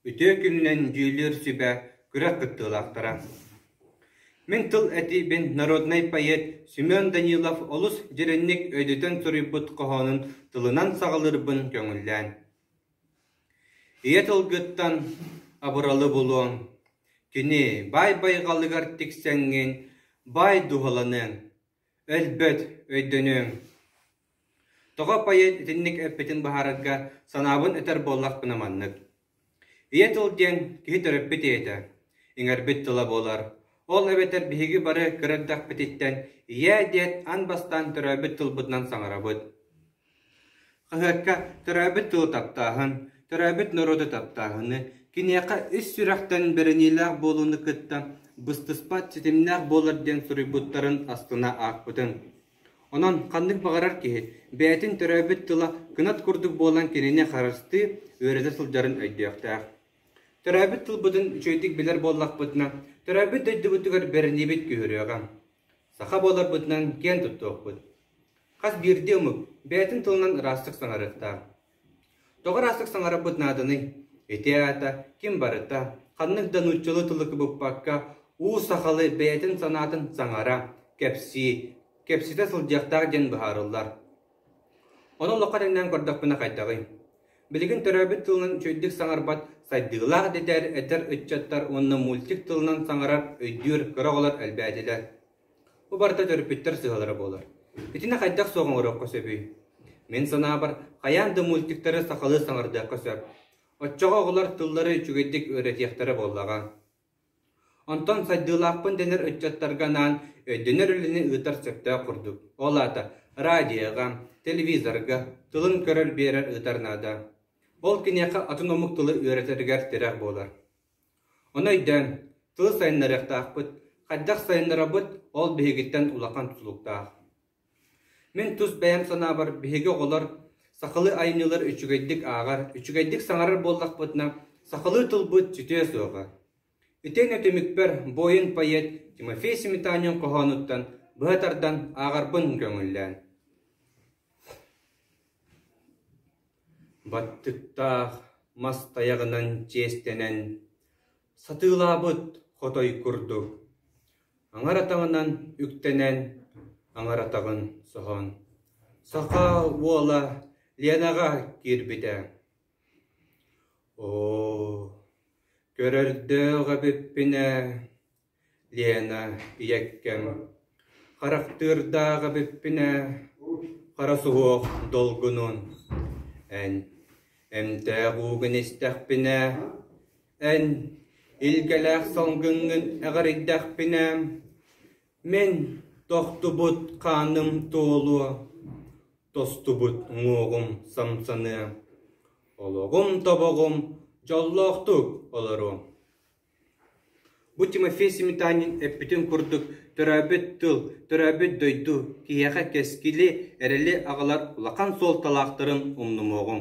Үтүө күнүнэн дьүүллүүр сүбэ күрэх кыттыылаахтара! Мин тыл этиибин народнай поэт Семен Данилов олус дьиринник өйдөтөн суруйбут хоһоонун тылынан саҕалыырбын көҥүллээн: «Ийэ тылгыттан абыралы булуоҥ, кини баай байҕалыгар тиксэҥҥин, баай дууһаланыаҥ. Өлбөт, өйдөнүөҥ. Тоҕо поэт итинник эппитин быһаарарга санаабын этэр буоллахпына маннык. Ийэ тыл диэн киһи төрөппүт ийэтэ, иҥэрбит тыла буолар. Ол эбэтэр биһиги бары кыра эрдэхпититтэн ийэ диэт ан бастаан төрөөбүт тылбытынан саҥарабыт. Хаһыакка төрөөбүт тылы таптааһын, төрөөбүт норуоту таптааһыны, киниэхэ ис сүрэхтэн бэриниилээх буолууну кытта быстыспат ситимнээх буолар диэн суруйбуттарын астына аахпытым. Онон ханнык баҕарар киһи бэйэтин төрөөбүт тыла кынат курдук буолан кинини харыстыы, үөрэтэ сылдьарын өйдүөхтээх. Төрөөбүт тылбытын үчүгэйдик билэр буоллахпытына, төрөөбүт дойдубутугар бэриниибит күүһүрүөҕэ. Саха буоларбытынан киэн туттуохпут. Хас биирдии омук бэйэтин тылынан ыраастык саҥарыахтаах. Тоҕо ыраастык саҥарарбыт нааданый? Ити аата ким барыта, ханнык да нууччалыы тылы кыбыппакка, уу сахалы бэйэтин санаатын саҥара, кэпсии, кэпсэтэ сылдьыахтаах диэн быһаарыллар. Ону олоххо тэҥнээн көрдөхпүнэ хайдаҕый? Билигин төрөөбүт тылынан үчүгэйдик саҥарбат сайдыылаах дэтэр эдэр ыччаттар уонна мультик тылынан саҥарар өйдүүр кыра оҕолор элбээтилэр. Бу барыта төрөппүттэр сыаллара буолар. Итини хайдах суох оҥоруохха сөбүй? Мин санаабар, хайаан да мультиктары сахалыы саҥардыахха сөп. Оччоҕо оҕолор тыллары үчүгэйдик үөрэтиэхтэрэ буоллаҕа. Онтон сайдыылаахпын дэнэр ыччаттарга анаан өйдөнөр үлэни ыытар сөптөөх курдук. Ол аата радиоҕа, телевизорга тылын көрөр-биэрэр ыытар наада. Ол киниэхэ атын омук тылы үөрэтэригэр тирэх буолар. Ону өйдөөн, тыл сайыннарыахтаахпыт, хайдах сайыннарабыт ол биһигиттэн улахан тутулуктаах. Мин тус бэйэм санаабар, биһиги оҕолор сахалыы айымньылар үчүгэйдик ааҕар, үчүгэйдик саҥарар буоллахпытына, сахалыы тылбыт сүтүө суоҕа. Итиэннэ түмүкпэр буойун поэт Тимофей Сметанин хоһоонуттан быһа тардан ааҕарбын көҥүллээн. Баттыктаах, мас тайаҕынан чиэстэнэн, сатыылаабыт хотой курдук, аҥаратаҕынан үктэнэн, аҥаратаҕын соһон, сахаа уола Ленаҕа киирбитэ: «Оо, көрөрдөөх эбиппин ээ, Лена, ийэккэм, харахтыырдаах эбиппин ээ, хара суһуох долгунун, эн, эмтээх уугун истэхпинэ, эн, илгэлээх салгыҥҥын эҕэрийдэхпинэ, мин тохтубут хааным туолуо, тостубут уҥуоҕум самсаныа, олоҕум тобоҕум дьоллоохтук олоруо Бу Тимофей Сметанин эппитин курдук, төрөөбүт тыл, төрөөбүт дойду, киһиэхэ кэскили, эрэли аҕалар улахан суолталаахтарын умнумуоҕуҥ.